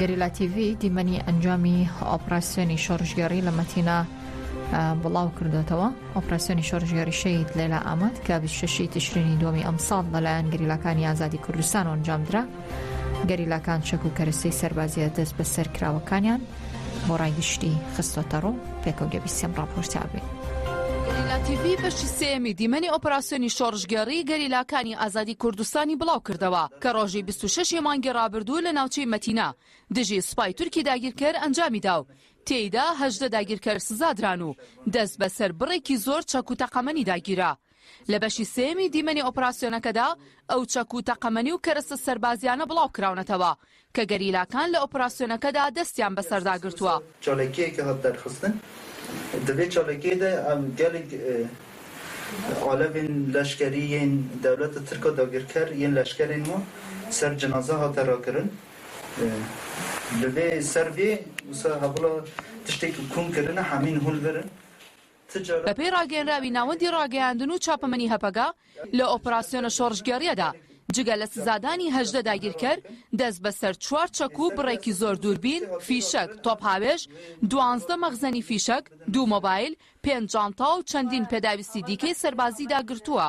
گەریلا تیڤی دیمەنی ئەنجامی ئۆپراسسیۆنی شۆڕژگەڕی لە مەتینا بڵاو کردوێتەوە ئۆپراسسیۆنی شۆڕژگەری شەید لەلا ئاماد کە 26 تشرینی دومی ئەمساڵ لەلایەن گریلاکانی ئازادی کوردستان ئەنجامدرا گەریلاکان چەک و کەرەسەی سەربازیە دەست بە سەرکراوەکانیان بۆ ڕای گشتی خستۆتەڕوو پێکەو دەبیسێم ڕاپۆرتاوێ. گەریلا تیڤی بەشی سێیەمی دیمەنی ئۆپراسیۆنی شۆڕشگێڕی گەریلاکانی ئازادی کوردستانی بڵاوکردەوە کە ڕۆژی بیست و شەش ی مانگی ڕابردوو لە ناوچەی مەتینا دژی سوپای تورکی داگیرکەر ئەنجامیدا و تێیدا هەژدە داگیرکەر سزادران و دەستبەسەر بڕێکی زۆر چەک و تەقەمەنیدا گیرا لە بەشی سێیەمی دیمەنی ئۆپراسیۆنەکەدا، ئەو چەک و تەقەمەنی و کەرەستە سەربازییانە بڵاوکراونەتەوە کە گەریلاکان لە ئۆپراسیۆنەکەدا دەستیان بەسەردا گرتووە. چالاکییەکە هەڵدەرخستن دەبێت چالاکییەدا گەلێک ئالەڤێن لەشکەری یەن دەولەتە ترکا داگیرکەر یەن لەشکەرێن وە سەر جنازە هاتە راکرن لە ڤێ سەر ڤێ وسا هەڤڵا تشتێک کون کرنە هەمین هول ڤرن. بەپێی ڕاگەیەنراوی ناوەندی ڕاگەیاندن و چاپەمەنی هەپەگە، لە ئۆپراسیۆنە شۆڕشگێڕییەدا جگە لە سزادانی هەژدە داگیرکەر، دەست بەسەر چوار چەک و بڕێکی زۆر دووربین، فیشەک، تۆپهاوێژ، دوانزدە مەخزەنی فیشەک، دوو مۆبایل، پێنج جانتا و چەندین پێداویستی دیکەی سەربازیدا گرتووە.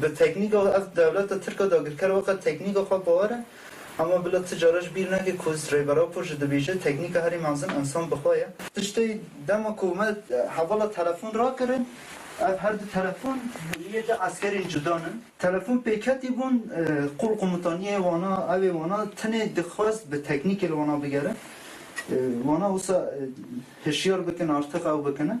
بە تەکنیکە و ئەز دەولەتە ترکە داگیرکەر وەقە تەکنیکە خوە باوەرە، ئەما بلە چ جارەش بیر نەکەی ک وز رێبەرا پۆ ژە دبیژێ تەکنیکە هەرێ مەزن ئنسان بخوە یە. پشتێ دەمە ک مە هەوەڵە تەلەفون راکردن، ئەڤ هەر دو تەلەفون یێ دە عەسکەرێن جودا نن. تەلەفون پێکەتی بون قوڵ قومتانیێ وانا، ئەوێ وانا تنێ دخواست بە تەکنیکێل وانا بگەرن، وانا وسا هشیار بکن ئارتق ئەو بکنن،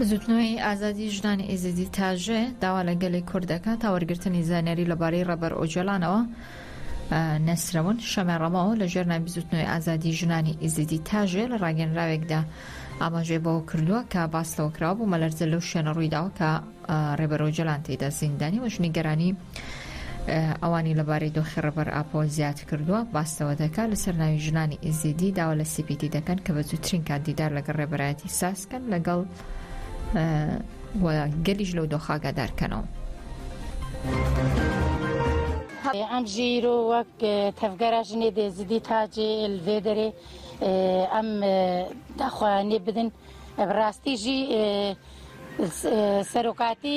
بزوتنەوەی ئازادی ژنانی ئێزیدی تاژێ داوا لە گەلی کورد دەکات تا وەرگرتنی زانیاری لەبارەی ڕەبەر ئۆجەلانەوە نەسرەون شەمە ڕەمەوە لە ژێرنای بزوتنەوەی ئازادی ژنانی ئیزیدی تاژێ لە ڕاگەنراوێکدا ئاماژێ بەوە کردووە کە باس لەوەکراوە بوو مەلەرزە لەو شوێنە ڕوویداوە کە ڕێبەرۆجلان تێدا زیندانی وەژنی گەرانی ئەوانی لەبارەی دۆخی ڕێبەر ئاپۆ زیادکردووە، باس لەوە دەکات، لەسەر ناوی ژنانی ئێزیدی داوا لە سی پی تی دەکەن کە بە زووترین کات دیدار لەگەڵ ڕێبەرایەتی ساز بکەن لەگەڵ و گەلیش لەو دۆخە ئاگادار بکەنەوە. ئەم ژیر و وەک تەفگەرە ژنێ دێزیدی تاجێ ئلێ دەرێ ئەم داخوایانێ بدن ڕاستیژی سەرۆکاتی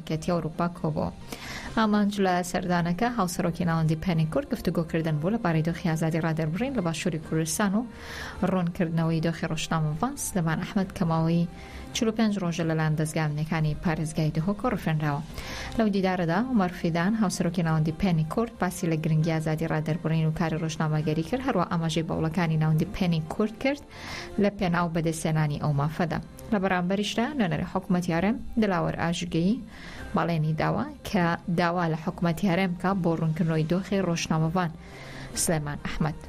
یەکێتی ئەوروپا کۆبوو. ئامانج لە سەردانەکە هاوسەرۆکی ناوەندی پەنی کورد گفتوگۆ کردن بوو لەبارەی دۆخی ئازادی ڕادەربڕین لە باشووری کوردستان و ڕوون کردنەوەی دۆخی ڕۆژنامەڤان سلێمان ئەحمەد کە ماوەی چل و پێنج ڕۆژە لەلایەن دەزگا ئەمنیەکانی پارێزگای دهۆکەوە ڕفێنراوە. لەو دیدارەدا عومەر فیدان هاوسەرۆکی ناوەندی پەنی کورد باسی لە گرنگی ئازادی ڕادەربڕین و کاری ڕۆژنامەگەری کرد هەروا ئاماژەی بە وڵەکانی ناوەندی پەنی کورد کرد لە پێناو بەدەستهێنانی ئەو مافەدا. لە بەرامبەریشدا نوێنەری حکومەتی هەرێم دلاوەر ئاژگەیی بەڵێنی داوە کە داوا لە حکومەتی هەرێم بکە بۆ ڕوونکردنەوەی دۆخی ڕۆژنامەڤان سلێمان ئەحمد.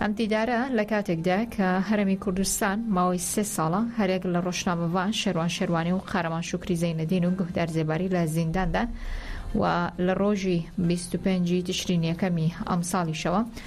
ئەم دیدارە لە کاتێکدا کە هەرمی کوردستان ماوەی سێ ساڵە هەرێک لە ڕۆژنامەڤان شەروان شەروانی و قارەمان شکری زەینەدین و گوهدار زێباری لە زینداندان و لە ڕۆژی 25 تشرینیەکەمی ئەمساڵیشەوە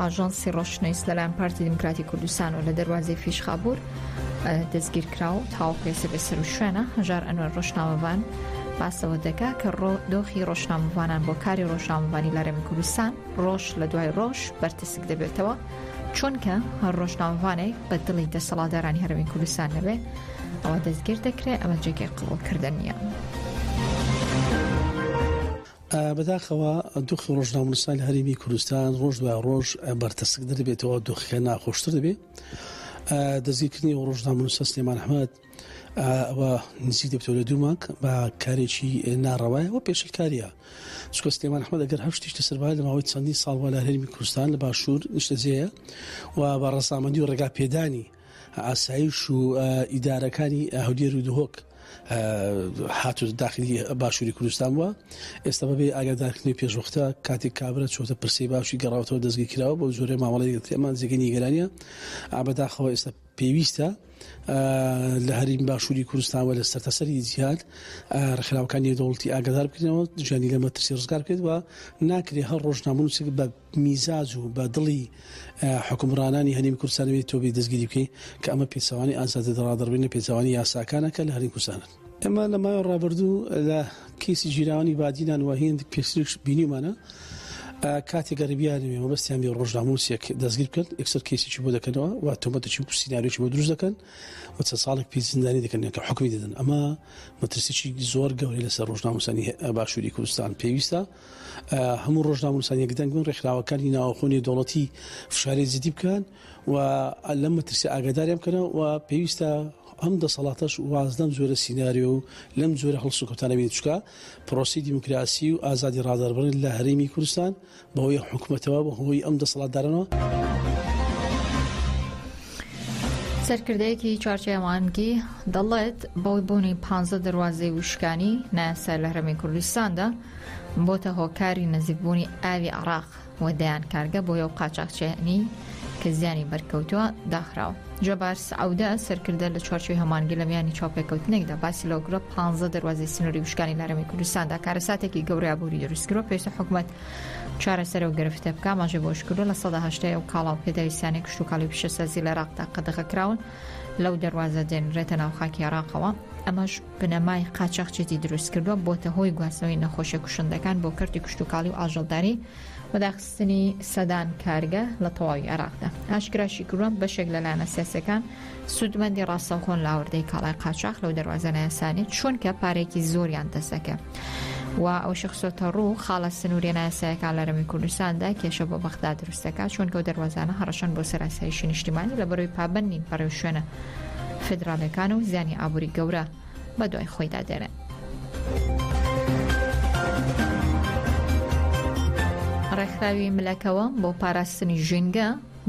ئاژانسی ڕۆشنەیس لەلایەن پارتی دیموکراتی کوردستان و لە دەروازی فیشخابور دەستگیر کرا و تاوەکەسە بێ سەر و شوێنە هەژار ئەنوەر ڕۆژنامەوان باسەوە دەکا کە ڕۆ دۆخی ڕۆژنامەوانان بۆ کاری ڕۆژنامەوانی لارێمی کوردستان ڕۆژ لە دوای ڕۆژ بەرتسک دەبێتەوە چونکە هەر ڕۆژنامەوانێک بە دڵی دەسەڵادارانی هەرمی کوردستان نەبێ ئەوە دەستگیر دەکرێت ئەمە جێکی قوڵکردن نیە. بەداخەوە دۆخی ڕۆژنامەنووسان لە هەرێمی کوردستان ڕۆژ دوای ڕۆژ بەرتەسک دەبێتەوە دۆخەکە ناخۆشتر دەبێت دەستگیرکردنی و ڕۆژنامەنووسە سلێمان حمد ئەوە نزی دەبتۆ لە دووماک بە کارێکی ناڕەوایە و پێشلکاریە چکە سلێمان حمد ئەگەر هەر شتیش لەسەربا لە ماوەی چەندین ساڵوە لە هەرمی کوردستان لە باشوور نیشتەجێە و بە ڕسامەندی و ڕێگا پێدانی ئاسایش و ئیدارەکانی هەولێر و دهۆک هاتو داخلی باشووری کوردستان بووە ئێستا بەبێ ئاگادارکردنی پێشوەختە کاتێک کابرا چۆتە پرسی باشی گەڕاوتەوە دەستگی کراوە بۆ زۆرە مامەڵی گەتێمان جێگەی نیگەرانە ئابداخەوە ئێستا پێویستە لە هەریم باشووری کوردستانەوە لە سەرتەسەری جیاد ڕخراوەکانی دەوڵتی ئاگادار بکەنەوە ژیانی لە مەترسی ڕزگار بکەێت و ناکرێت هەر ڕۆژنامون بە میزاج و بە دڵی حوکمڕانانی هەرێمی کوردستان نەبێت تۆ بێی دەستگیری بکەی کە ئەمە پێچەوانەی ئازادی دەڕادەڕبرین لە پێچەوانەی یاساکانە کە لە هەرێمی کوردستانن. ئێمە لە ماوەی ڕابردوو لە کەیسی ژیراوانی بادینان و هێند پێشتریش بینیومانە کاتێک گەربیانوێ مەبەستیان بێ ڕۆژناموسێک دەستگیر بکەن ئەکسەر کەیسێکی بۆ دەکەنەوە و تۆمەتێکی و سیناریۆکی بۆ دروست دەکەن و چەند ساڵێک پێ زیندانی دەکەن کە حکومی دەدەن ئەمە مەترسیی زۆر گەورەی لەسەر ڕۆژناموسانی باشووری کوردستان پێویستە هەموو ڕۆژنامەنووسان یەکدەنگ بن ڕێکخراوەکانی ناوەخۆ نێودەوڵەتی فشاری جدی بکەن و لەم مەترسی ئاگاداریان بکەنەوە و پێویستە ئەم دەسەڵاتەش واز لەم جۆرە سینناریۆ و لەم جۆرە هەڵسوکەوتانە بین چکە پرۆسی دیموکراسی و ئازادی ڕادەربڕن لە هەرێمی کوردستان بەهۆی حکوومەتەوە بەهۆی ئەم دەسەڵاتدارنەوە. سەرکردەیەکی چوارچێوە مانگی دەڵێت بەوەی بوونی پانزە دەواازەی وشکانی نایاسای لە هەرمی کوردستاندا بۆتە هۆکاری نزیکبوونی ئاوی عراق و دەیان کارگە بۆ یو قاچاقچێنی کە زیانی بەرکەوتووە داخراوە جەبار سعودە سەرکردە لە چوارچوی هەمانگی لە میانی چاپێکەوتنێکدا باسی لەوکرە پ دەواازی سنووری وشکانی لەرەمی کوردستاندا کارەساتێکی گەورابووری دروستکرۆ پێشتە حکوومەت چارەسەرەو گرفتە بکە ئاماژەی بەوەشکردووە، لە سەدا هەشتای ئەو کاڵا و پێداویستیانەی کشتوکاڵی و پیشەسازی لە عێراقدا قەدەغەکراون لەو دەروازە دێنرێتە ناو خاکی عێراقەوە، ئەمەش بنەمای قاچاخچێتی دروستکردووە، بۆتە هۆی گواستنەوەی نەخۆشیە کوشندەکان بۆ کەرتی کشتوکاڵی و ئاژەڵداری، و داخستنی سەدان کارگە لە تەواوی عێراقدا. ئاشکراشیکردووە، بەشێک لە لایەنە سیاسییەکان، سوودمەندی ڕاستەوخۆن لە ئاوردەی کاڵای قاچاخ لەو دەواازە نایاسانی چونکە پارێکی زۆریان دەسەکە. و ئەو شخصۆتە ڕوو خاڵە سنووری ناسایەکە لە رەمی کوردستاندا کێشە بۆ بەخدا دروستەکە چۆن کەوت دەواازانە هەڕەشەن بۆ سەراسایشی نیشتیمانی لە بەروی پابند نین پەڕێو شوێنە فدراالەکان و زیانی ئابووری گەورە بە دوای خۆیدا دێنێت. ڕێکخراوی ملەکەوە بۆ پاراستنی ژینگە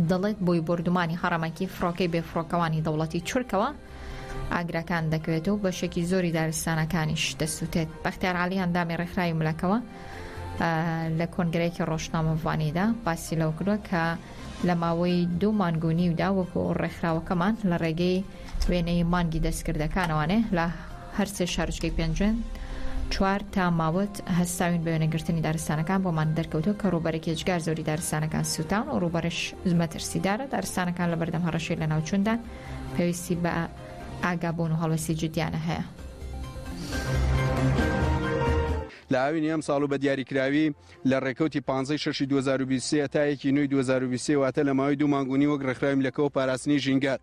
دەڵێت بۆی بۆردومانی هەڕەمەکی فڕۆکەی بێ فڕۆکەوانی دەوڵەتی تورکەوە ئاگراکان دەکەوێت و بەشێکی زۆری دارستانەکانیش دەسووتێت بەختیار عالی ئەندامی ڕێکخراوی ملەکەوە لە کۆنگرەیەکی ڕۆژنامەڤانیدا باسی لەو کردوە کە لە ماوەی دوو مانگونیودا وەکو ڕێکخراوەکەمان لە ڕێگەی وێنەی مانگی دەستکردەکان ئەوانێ لە هەرسێ شارچکەی پێنجوێن چوار تا ماوەت هەستاوین بە وێنەگرتنی دارستانەکان بۆمان دەرکەوتۆ کە ڕووبەرێک هێجگار زۆری دارستانەکان سووتان و ڕووبەرش زمەترسیدارە دارستانەکان لە بەردەم هەڕەشەی لە ناوچوندان پێویستی بە ئاگابوون و هەڵوەسی جدیانە هەیە. لە ئاوینی ئەم ساڵ و بە دیاریکراوی لە ڕێکەوتی 15 ششی 2023 تا یەکی نوی 2023 واتە لە ماوەی دوو مانگونی وەک ڕێکخراوی لەکەەوە پاراستنی ژینگە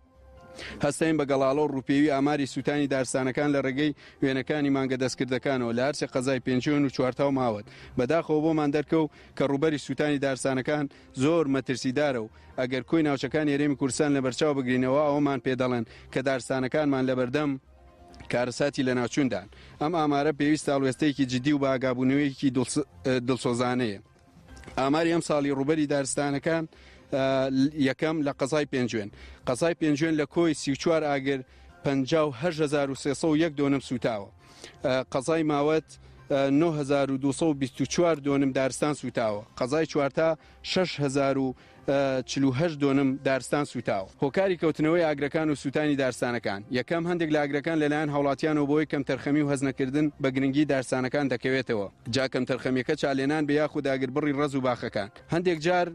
هەستاین بە گەڵاڵە و ڕووپێوی ئاماری سووتانی دارستانەکان لە ڕێگەی وێنەکانی مانگە دەستکردەکانەوە لە هەرسێ قەزای پێنجوێن و چوارتاو ماوەت بەداخەوە بۆمان دەرکەوو کە ڕووبەری سووتانی دارستانەکان زۆر مەترسیدارە و ئەگەر کۆی ناوچەکانی هەرێمی کوردستان لەبەرچاو بگرین ئەوا ئەوەمان پێ دەڵێن کە دارستانەکانمان لەبەردەم کارەساتی لەناوچووندان ئەم ئامارە پێویستە هەڵوێستەیەکی جدی و بە ئاگابوونەوەیەکی دڵسۆزانەیە. ئاماری ئەمساڵی ڕووبەری دارستانەکان یەکەم لە قەزای پێنجوێن قەزای پێنجوێن لە کۆی سی چوار ئاگر 1970 دۆنم سوتاوە قەزای ماوەت 1924 دۆنم دارستان سوتاوە قەزای چوارتا 6 چل و هەشت دۆنم دارستان سووتاوە. هۆکاری کەوتنەوەی ئاگرەکان و سووتانی دارستانەکان، یەکەم، هەندێک لە ئاگرەکان لەلایەن هاوڵاتیانەوە بەهۆی کەمتەرخەمی و هەستنەکردن بە گرنگی دارستانەکان دەکەوێتەوە، جا کەمتەرخەمیەکە چالێنان بێ یاخود ئاگربڕی ڕەز و باخەکان هەندێک جار،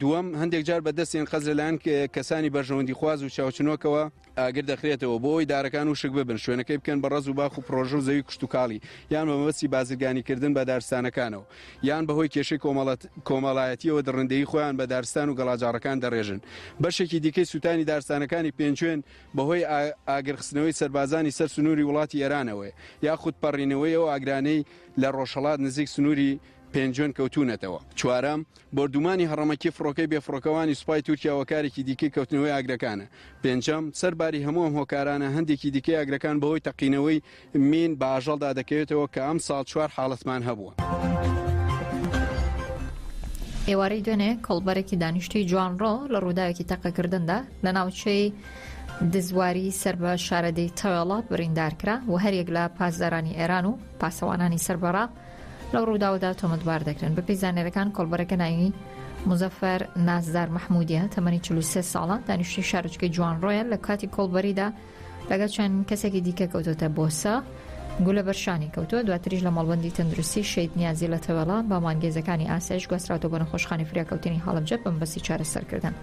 دووەم، هەندێک جار بە دەست یان قەست لەلایەن کەسانی بەرژەوەندیخواز و چاوچنۆکەوە ئاگر دەخرێتەوە بۆ ئەوەی دارەکان وشک ببن، شوێنەکەی بکەن بە ڕەز و باخ و پڕۆژە و زەوی کشتوکاڵی، یان بە مەبەستی بازرگانیکردن بە دارستانەکانەوە، یان بەهۆی کێشەی کۆمەڵایەتییەوە دڕندەیی خۆیان بە دارستان و گەڵاجاڕەکان دەڕێژن. بەشێکی دیکەی سووتانی دارستانەکانی پێنجوێن بەهۆی ئاگرخستنەوەی سەربازانی سەر سنووری وڵاتی ئێرانەوەیە، یاخود پەڕینەوەی ئەو ئاگرانەی لە ڕۆژهەڵات نزیک سنووری پێنجوێن کەوتوونەتەوە. چوارەم، بۆردوومانی هەڕەمەکی فڕۆکەی بێفڕۆکەوانی سوپای تورکیا وە کارێکی دیکەی کەوتنەوەی ئاگرەکانە. پێنجەم، سەر باری هەموو ئەم هۆکارانە، هەندێکی دیکەی ئاگرەکان بەهۆی تەقینەوەی مین بە ئاژەڵدا دەکەوێتەوە کە ئەمساڵ چوار حاڵەتمان هەبووە. ئێوارەی دوێنێ کۆڵبەرێکی دانیشتووی جوانڕۆ لە ڕووداوێکی تەقەکردندا لە ناوچەی دزواری سەر بە شارەدەی تەوێڵە بریندارکرا و هەریەک لە پاسدارانی ئێران و پاسەوانانی سەر بەڕاق لەو ڕووداوەدا تۆمەتبار دەکرێن. بەپێی زانیاریەکان کۆڵبەرەکە ناوی موزەفەر نازدار مححمودیە تەمەنی 43 ساڵان دانیشتی شارچکەی جوان ڕۆیە لە کاتی کۆڵبەریدا لەگەڵ چەند کەسێکی دیکە کەوتۆتە بۆسە گولە بەرشانی کەوتووە دواتریش لە مەڵبندی تەندروستی شید نیازی لە تەوێڵە بە مانگێزەکانی ئاسایش گوستراوەوە بە نەخۆشخانی فریاکەوتنی هەڵبجە بەم بەسی چارەسەرکردن.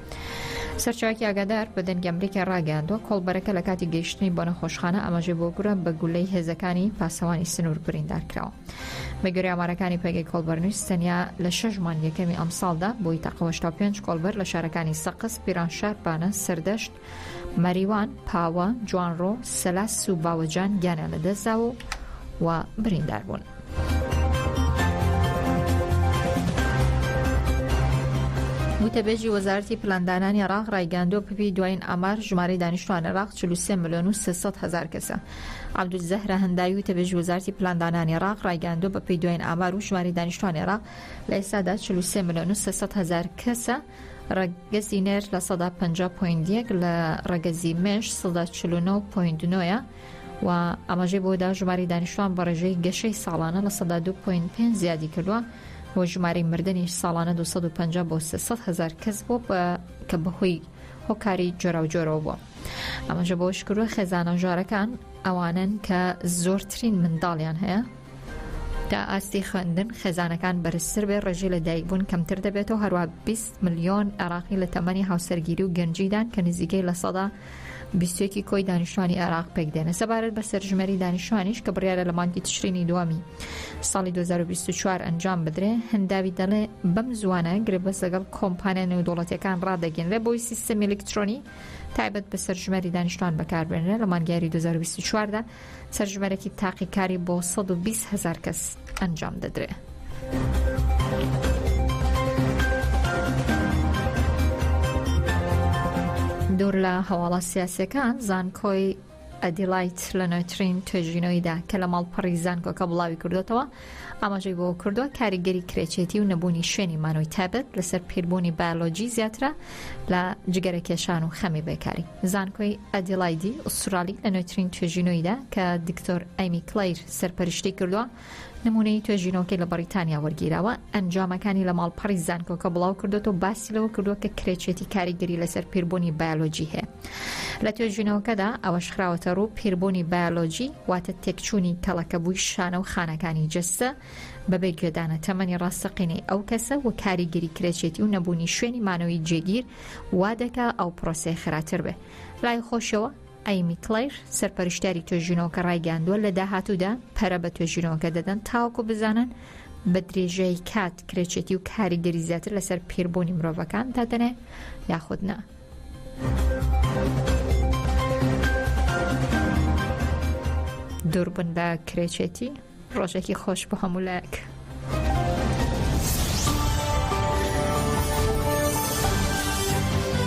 سەرچاوکی ئاگادار بە دەنگی ئەمریکای ڕاگەیاندوە کۆڵبەرەکە لە کاتی گەیشتنی بۆ نەخۆشخانە ئاماژەی بۆ گورە بە گولەی هێزەکانی پاسەوانی سنوور بریندار کراوە بەگوێرە ئامارەکانی پێگەی کۆڵبەرنووس تەنیا لە شەش مانگ یەکەمی ئەمساڵدا بۆی تاقەوەشتا پێنج کۆڵبەر لە شارەکانی سەقز پیرانشار پانە سەردەشت مەریوان پاوە جوانڕۆ سەلاس و باوەجان گیانە لە دەستداوە و بریندار بوون. گوتەبێژی وەزارەتی پلاندانانی عێراق ڕایگەیاندووە پپی دوایین ئامار ژمارەی دانیشتوان عێراق 43 ملیۆن و 300 هەزار کەسە عەبدولزەهرە هەنداوی وتەبێژی وەزارەتی پلاندانانی عێراق ڕایگەیاندووە بەپێی دوایین ئامار و ژمارەی دانیشتوان عێراق لە ئێستادا 43 ملیۆن و 300 هەزار کەسە ڕەگەزی نێر لە سەدا 50 پوین یەک لە ڕەگەزی مێش سەدا 49 پوین نۆە و ئاماژەی بەوەدا ژماری دانیشتوان بە ڕێژەی گەشەی ساڵانە لە سەدا دوو پۆینت پێنج زیادی کردووە و ژماری مردنیش ساڵانە 250 بۆ 300 هزار کەس بۆ کە بەهۆی هۆکاری جۆراوجۆرەوە بووە ئەمەژە بۆ شکروە خێزانە ژارەکان ئەوانن کە زۆرترین منداڵیان هەیە تا ئاستی خوێندن خێزانەکان بەرزتر بێ ڕێژی لە دایکبوون کەمتر دەبێتەوە هەروە 20 ملیۆن عراقی لە تەمەنی هاوسەرگیری و گەنجیدان کە نزیکەی لە سەدا بیست و یەک ی کۆی دانیشتوانی عێراق پێک دێنە سەبارەت بە سەرژمێری دانیشتوانیش کە بڕیارە لە مانگی تشرینی دووەمی ساڵی 2024 ئەنجام بدرێ هەنداوی دەڵێ بەم زوانە گرێبەست لەگەڵ کۆمپانیا نێودوڵەتەکان ڕادەگەنرێ بۆی سیستەمی ئەلکترۆنی تایبەت بە سەرژمێری دانیشتوان بەکاربێنرێ لە مانگیاری 2024دا سەرژمێرێکی تاقیکاری بۆ سەد و بیست هەزار کەس ئەنجام دەدرێ. دوور لە هەواڵە سیاسەکان زانکۆی ئەدیلایت لە نوێترین توێژینەوەیدا کە لە ماڵپەڕی زانکۆکە بڵاوی کردوێتەوە ئاماژەی بۆ کردووە کاریگەری کرێچێتی و نەبوونی شوێنی مانۆی تابەت لەسەر پیربوونی بایلۆجی زیاترە لە جگەرە کێشان و خەمی بێکاری. زانکۆی ئەدیڵایدی ئوسترالی لە نوێترین توێژینەوەیدا کە دکتۆر ئەیمی کلەیر سەرپەرشتی کردووە نمونەی توێژینەوەکەی لە بەڕیتانیا وەرگیراوە ئەنجامەکانی لە ماڵپەڕی زانکۆکە بڵاو کردوێت و باسی لەوە کردووە کە کرێچێتی کاریگەری لەسەر پیربوونی بایۆلۆجی هەیە لە توێژینەوەکەدا ئەوەش خراوەتە ڕوو پیربوونی بایۆلۆجی واتە تێکچوونی کەڵەکەبووی شانە و خانەکانی جەستە بەبێ گوێدانە تەمەنی ڕاستەقینەی ئەو کەسە و کاریگەری کرێچێتی و نەبوونی شوێنی مانەوەی جێگیر وا دەکا ئەو پرۆسەیە خێراتر بێ. لای خۆشەوە، ئەیمی کلەیر، سەرپەرشتیاری توێژینەوەکە ڕایگەیاندووە، لە داهاتوودا پەرە بە توێژینەوەکە دەدەن تاوەکو بزانن بە درێژایی کات کرێچێتی و کاریگەری زیاتر لەسەر پیربوونی مرۆڤەکان دادەنێ یاخود نا. دووربن بە کرێچێتی ڕۆژێکی خۆش بۆ هەموو لایەک.